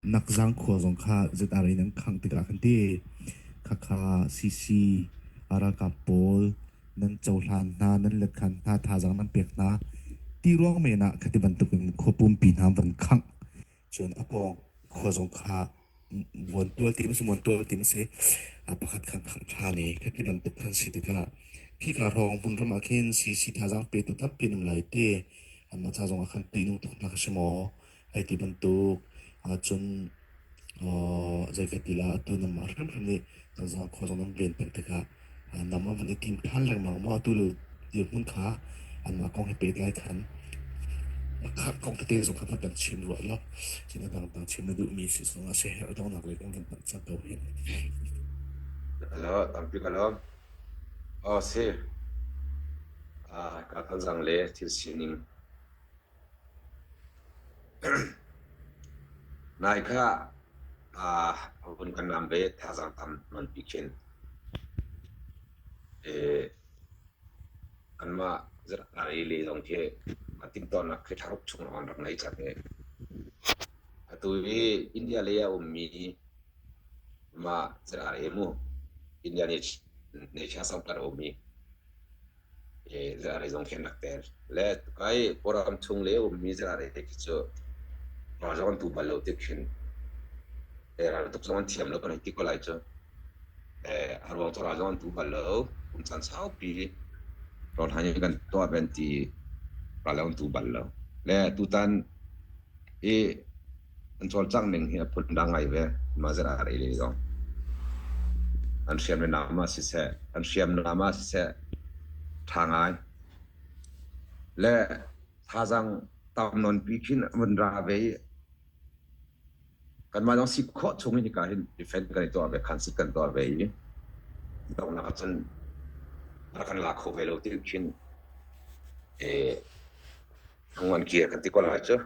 nakzang khua zong kha ZR in an khangh tikah kan ti khakha CC aralkap pawl nan cohlan hna nan letkan hna thazang nan pek hna ti ruang men ah khati bantuk in khopum pi hna van khangh cun a pawng khua zong kha vuan tual tim si mon tual tim si a pakhat khan khang tha ni khati bantuk khan si tikah khi ka rong bun ram ah khin CC thazang pe tu tampi nim lai te amma cha zong a khan ti nu thuk na ka shimo Hei ti bantuk ahcun zeikati lah atu namah hrimhrim nih zakkhua zong nan ven peng tikah nam an van i tim ṭhan lengmang maw atu le dirhmun kha anmah kong he pehtlai khan kong tete zong kha kan chim rua law sinak dangdang chim na duhmi si zongah siaherh donghnak lei kong kan hngalh cang ko hi. Alo, tampi kalom. Oh si. Ah, ka kal zang le thil sining. Nai kha vun kan naam ve thazaang tam nganpi khin. Kanmah zarhkar i le zong khi a timhtuahnak khi tharup chung an rak ngei cang i. Atu hi India lei a ummi mah zarhkar i mu India Nature Center a ummi Zarei zong khi an rak tel. Le kai Kawlram chung le ummi zarei te khi cu ralzam tu bal lo tik khin raltuk zong an thiam lo kan ti ko lai cu. A ruang cu ralzam tu bal lo kum caan saupi rawl han in kan tuah ben ti ralzam tu bal lo. Le tutan i an cawlcangh ning hi a phundang ngai ve. Mahzet aa reh le zong. An hriamnam ah siseh, an hriamnam ah siseh, ṭha ngai. Le thazaang tam nonpi khin a vun ra ve i, kanmah zong si khawh chung in hika hin defend kan i tuah ve, khan sit kan tuah ve i, donghnak ah cun rak kan la kho ve lo ti khin e, hnangon kir kan ti ko lai cu.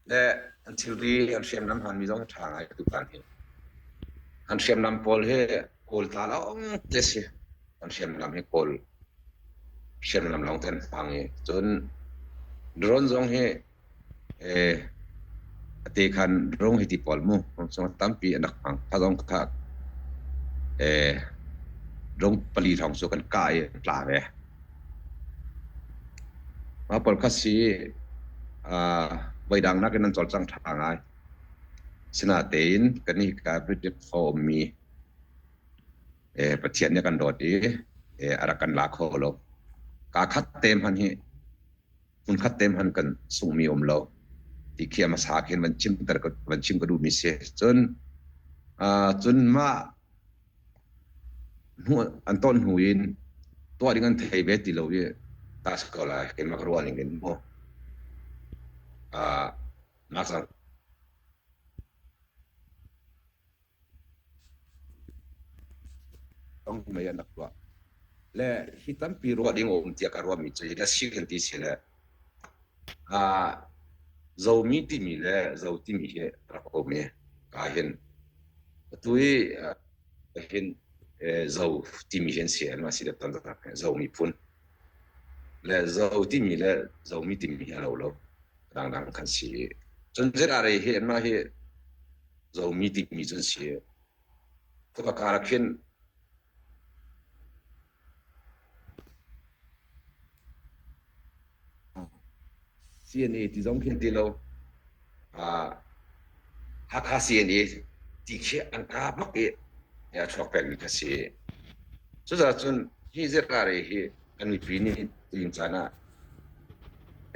le an thilri an hriamnam hmanmi zong a ṭha ngaitu pa nih an hriamnam pawl hi kawlta lawng te a si an hriamnam hi kawl hriamnam lawng te an hmang i cun drone zong hi eh a te khan drone hi ti pawl mu drone zong tampi an rak hmang kha zong kha eh drone pali thong cu kan kah i an tla ve Pawl khat si voidang nakin an cawlcang ṭha ngai. Asinatein kannih Catholic khua ummi Pathian nih a kan dawt i a rak kan la kho lo. Kaa khat te hmanh hi hmun khat te hmanh kan sunghmi a um lo. Ti khi a hmasa khin van chim ka duhmi si ahcun cun mah an ton hnu in tuah ding an thei ve ti lo i tas ko lai keimah ka ruah ning in maw ngakchak tong mei an rak tuah le hi tampi ruah ding a um tiah ka ruahmi cu hi le si kan ti si le Zomi timi le Zo timi hi a rak um i kaa hin atu hi hin Zo timi hi an si i anmah si le tantanak he Zo miphun le Zo timi le Zomi timi hi a lo lo dangdang kan si i cun zirare hi anmah hi Zomi timi cu an si. Cuka karah khin CNA ti zong khi an ti lo. Uh, Hakha CNA ti khi an ka bak i ya chuak pengmi kha si. Cucaah cun hi zirkare hi kan mipi nih tuin caan ah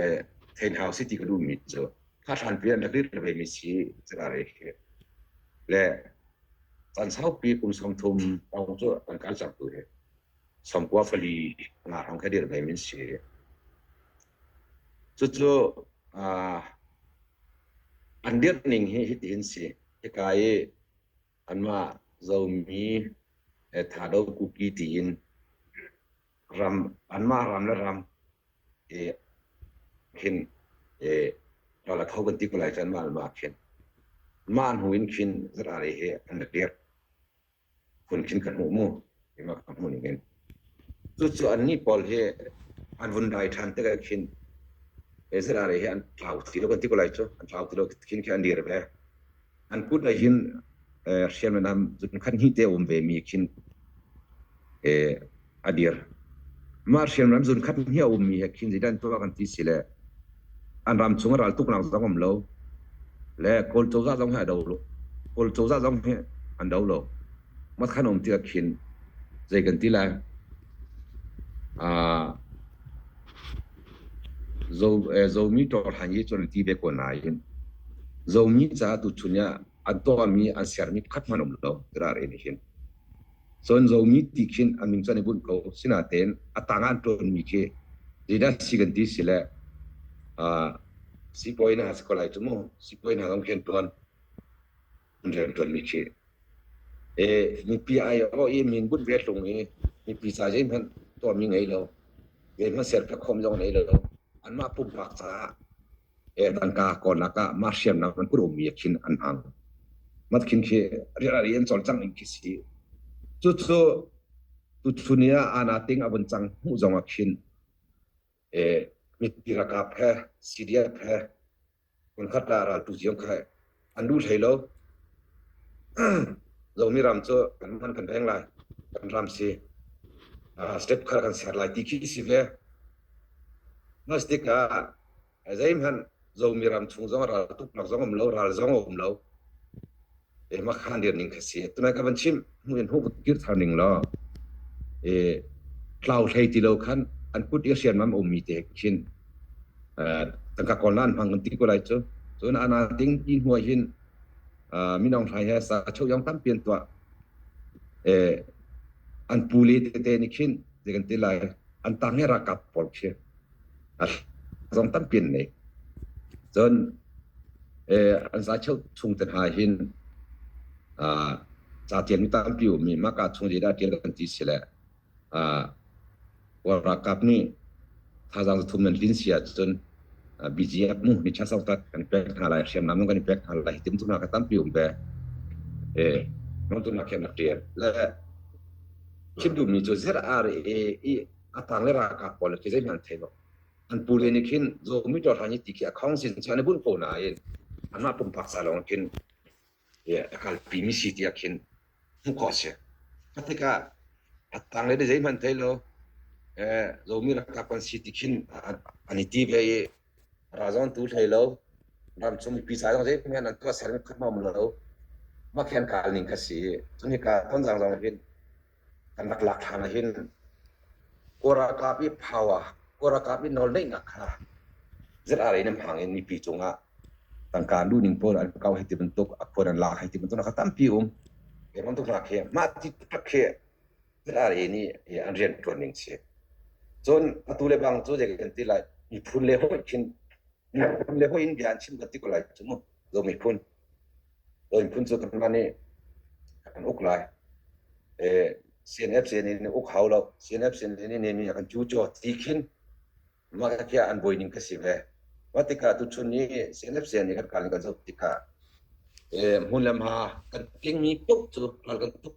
eh, thein hau si ti ka duhmi cu thahran pian rak rit le veimi si zirkare khi. Le Kan saupi kum sawm thum awng cu kan kan sertu hi sawm kua fali nga rang kha dir ngai min si. Cucu an dirh ning hi hiti hin si. Hika i anmah zomi tha do kuki tiin ram anmah ram le ram i khin i rala kho kan ti ko lai can mah le mah khin mah hnu in khin zara re he an la tir kun khin kan mu mu ima ka mu ning in cu cu an ni paul he an vun dai than te khin ezra re he an tlau ti lo kan ti ko lai chu an tlau ti lo khin khin an dir ve an kut nih hin hriamnam nam khan hnih te a um ve mi khin a dir. Mah hriamnam zun khat hnih a um mi he khin zeidan tuah kan ti si le an ram chung a ral tuk nak zong am lo le kawl cozah zong he a do lo kawl cozah zong he an do lo mat khan om ti khin zei kan ti lai. Uh, Zomi ṭawhhran hi cun ti ve ko nain Zomi caah tuchun ah a tuahmi an sermi pakhat hmanh a um lo tirah rel hin. Cun Zomi ti khin a min cu an i bunh ko. Sinain a tang ah an ṭuanmi khi zeidah si kan ti si le siibawi hna a si ko lai cu mu. Siibawi hna zong khi an ṭuan. rianṭuanmi khi. E, mipi aiawh i min bunh ve tlung i mipi ca zeihmanh tuahmi ngei lo, zeihmanh serpiak khawm zong ngei lo. Anmah pumpak caah e, tangka kawlnak ah mah hriamnam an kun ummi khin an hang. Mat khin khi rial ari an cawlcang in khi si. Cucu tutu ni ah ana ting a vun cang hmuh zong a khin. mipi ralkap he CDF he hmunkhat ah raltu ziong kha an lu hlei lo zomi ram cu kan man kan reng lai kan ram si step kha kan ser lai ti khi si ve mah stik ah zeihmanh zomi ram chung zong ral tuk nak zong um lo ral zong um lo makha lian ning kha si. Tunai ka van chim hnu in huk kir thar ning law e tlau hlei ti lo khan an kut i sian mam um mi te khin tangka kol nan hmang an ti ko lai cu cun ana ding i hnuai hin minong hrai he sa chau yong tam pian tua e an pu le te te ni khin de kan ti lai an tang he ra kap pol khi A zong tampi an nei. Cun eh, an za cheu chung te hna hin ah ca tialmi tampi ummi maka chung lila tial kan ti sile ah Kawl ralkap nih thazaang zathum nan hlin si ahcun ah BGF mu mi ṭha zong tak kan pek hna lai, hriamnam zong kan i pek hna lai, hitin tu hna kha tampi um ve. Eh, non tu hna khin a ṭial. Le chim duhmi cu zir ar i atang le ralkap pawl khi zeihmanh an thei lo an pu le nih khin zomi to hran ti khi akhong sin chan bunh ko nain anmah pumpak sa lawng khin akal pi mi si tiah khin hmuh ko si katikah atang le zeihmanh thei lo zomi rakap kan si ti khin an i ti ve i razon tu hlei lo ram chung pi sa zong zeihmanh an tuah ser khat mam lo ma khen kal ning ka si cun hika ton zang zong hin kan rak lak hlan ah hin kaw ralkap i power kaw ralkap i nawlneihnak kha zat are in hmang in mipi cungah tangka lu ning pawl an kau hei ti bantuk a khuan an lak hei ti bantuk na kha tampi um ke bantuk hna khi mah ti tak khi zat are ni hi an rian tuan ning si cun atu le bang cu je kan ti lai miphun le hoi khin miphun le hoi in bian chim ka ti ko lai cu mu zo miphun Oi phun cu tamna nih kan uk lai. CNFC nih na uk hau lo. CNFC nih nem hi kan cu cho ti khin mah kha kia an buai ning ka si ve. Mah tikah tuchun i CNFC nih kan kal in kan zoh tikah hmun le hma kan tling mi paoh cu ral kan tuk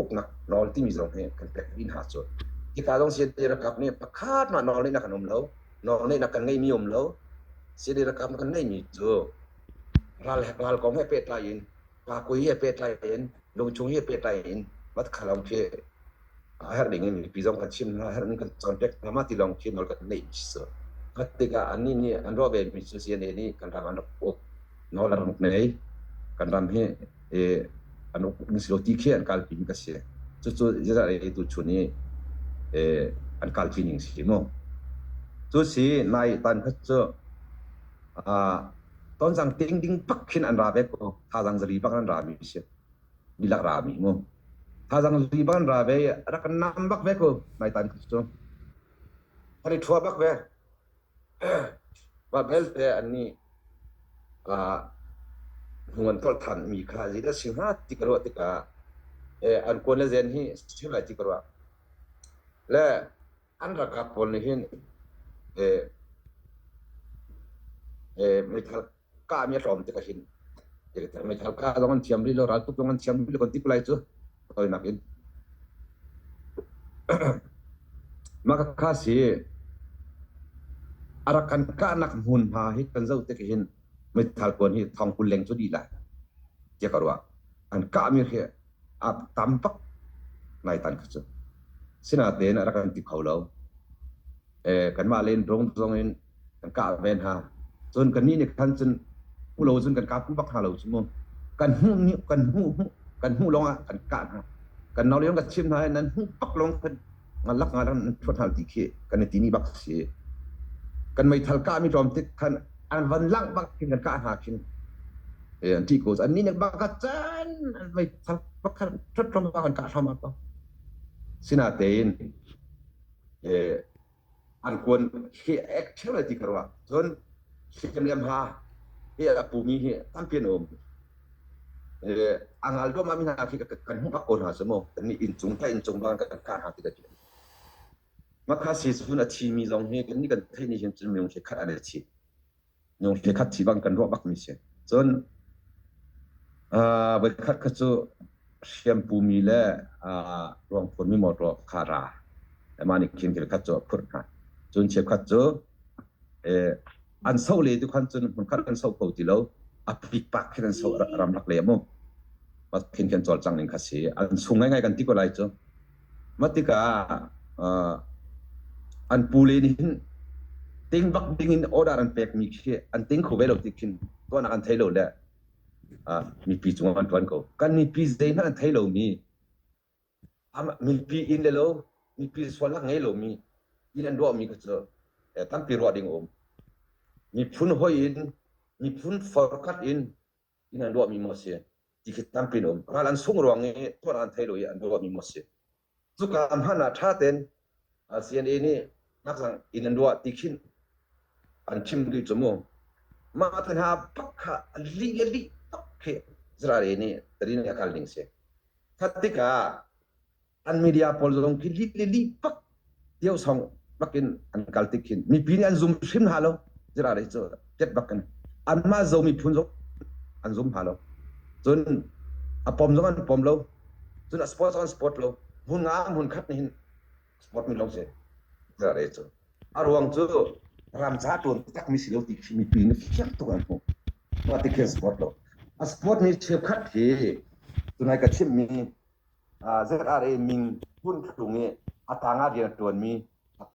uknak nawl timi zong hi kan pek mi hna cu hika zong siadi rakap nih pakhat mah nawl neihnak kan um lo nawl neihnak kan ngei mi um lo siadi rakap kan ngei mi cu ral hek ral kong he pehtlai in pa kui he pehtlai in lungchung he pehtlai in vat khalam khi a her ding mi pi zong kan chim na her kan con pek na ma ti long khi nol kan nei mi su katika an ni ni an ro ve mi su si ne ni kan ram an uk nol ram nei kan ram hi an uk si lo ti khi an kal pin ka si cucu Israel tu chun i an kal pi ning si mu cu si nai tan khat cu ton zang ting ding pak khin an ra ve ko tha zang zari bak an ra mi si mi lak ra mi mu tha zang zari bak an ra ve rak nam bak ve ko nai tan khat cu hori thua bak ve Mah belte anih hnu an tholh thanmi kha zeidah a si hnga ti ka ruah tikah an kuan le zen hi a si lai ti ka ruah. Le an ralkap pawl nih hin mi thar kahmi a hlawm tik ahhin Halkha zong an thiam rih lo raltuk zong an thiam rih lo kan ti ko lai cu tawinak in mah kha si arak kan kahnak hmunhma hi kan zoh tik hin meithal puan hi thong kul leng cu di lai tiah ka ruah an kahmi khi a tam pak ngai tan kha cu sinaten a rak kan ti kho lo kanmah le in rung zong in kan kah ven ha cun kan nih nih khan cun hmu lo cun kan kap bak hna lo cu mu kan hmuh ni kan hmuh kan hmuh lawng ah kan kah hna kan nau lion ka chim hna nan hmuh bak lawng kan ngalak ngalak nan chuat hal ti khi kan ti ni bak si kan mei thal ka mi tlom tik khan an van lang bak kin kan kah hna kin an ti ko an ni nek bak chan an mei thal bak khan chot tlom bak kan kah thom ba sina tein eh an kuan he ek theu lai ti ka ruah cun hi hriamriam ha hi a pumi hi tampi an um a ngal duah mi hna khi kan hmuh ko hna cu mu kan nih inncung ta inncung bang kan kah hna ti ka ti makha si cun a thi mi zong hi kan nih kan theih ni hin cun minung khi khat an i thi Nungki khat thi bang kan ruah bak mi si. Cun uh, voikhat kha cu hriampumi le uh, ruangphun mi mawtaw khara. Ema nih khin kil khat cu a phurh hna. Cun chiap khat cu eh, an so le tu khan cun hmun khat an so ko ti lo a pik pak khin an so ram lak le mu. Pat khin khin chol chang ning khasi an sung ngai ngai kan ti ko lai cu. Mah tikah an pule nih hin ting bak dingin order an pekmi khi an ting kho ve lo ti khin tuahnak an thei lo le mipi cungah an ṭuan ko. Kan mipi zeihmanh an thei lomi, mipi inn le lo, mipi sualnak ngei lomi, inn an ruahmi kha cu tampi ruah ding a um. Miphun hoi in, miphun forkhat in inn an ruahmi maw a si ti khi tampi in um ral an sung ruang i thuat an thei lo i an ruahmi maw a si cuka hman ah ṭha ten CNA nih ngakzang inn an ruah ti khin an chim duh cu mu mah than ha pak kha a li a li tak khi zara re nih tadin a kal ning si that tikah an media pawl zong khi li li pak deu song bakin an kal tik hin mipi nih an zum hrim hna lo jira dei cu ket bakin an ma zo miphun zong an zum hna lo cun a pom zong an pom lo cun a sport zong an sport lo hmun nga hmun khat hin sport mi lo se jira dei cu a ruang cu ramca tuan tak mi si lo ti khi mipi nih fiang tuk an hmu ma ti khin sport lo a sport mi cheukhat hi tunai ka chimmi zarh ah le ming hmun thlung i a tangah rian a ṭuanmi a ṭha.